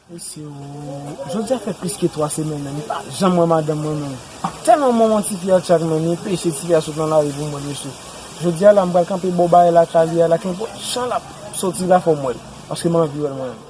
Jodi a fè plis ke 3 semèn men m pa janm wè madanm mwen menm. Tèlman mwen wont tifi a chak men m enpeche tifi a sot nan lari pou m wè l mesye. Jodi a la m pral kanpe bò barè lakay li a la kenpòt jan l ap soti la fò m wè l paske m anvi wè l mwen menm.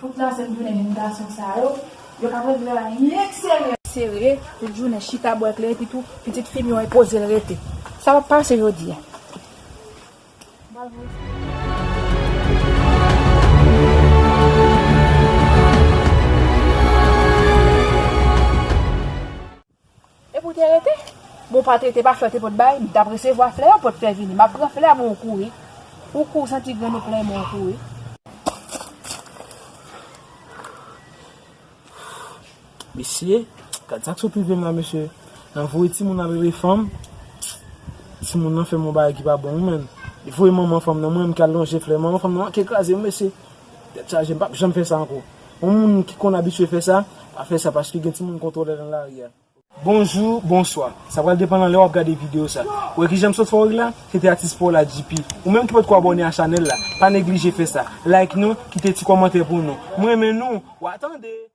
Tout la sent jounen jenn gason sa yo, yo ka pran travay sere. Sere, tout jounen chita bwè kle epi tou pitit fi m yo enpoze l rete. Sa pa p pase jodi a. M pral voye sa. Epi w te rete? Bon w pa te rete pa flè w te pot bay, m tap resevwa flè yo pot fè vini, m ap pran flè a men w kouri, ou kou w santi grenn ou plen men w kouri. Mesye, gad sak sot rive m la mesye, nan voye timoun nan bebe fanm, timoun nan fè m yon bagay ki pa bon wi menn, li voye manman fanm nan mwen menm ki al lonje flè, manman fanm nan manke kraze m mesye, Tèt chaje, m pap janm fè sa ankò. Yon moun ki konn abitye fè sa, pa fè sa paske gen timoun kontwole nan lari a. Bonjou, bonswa. Sa pral depan nan lè wap gade video sa. Ou wè kijanm sot fè w la? Se te atis paw la JP. Ou menm ki potko abòne a chanèl la, pa neglije fè sa. Like nou, kite ti kòmantè pou nou. M renmen nou! Wa tande!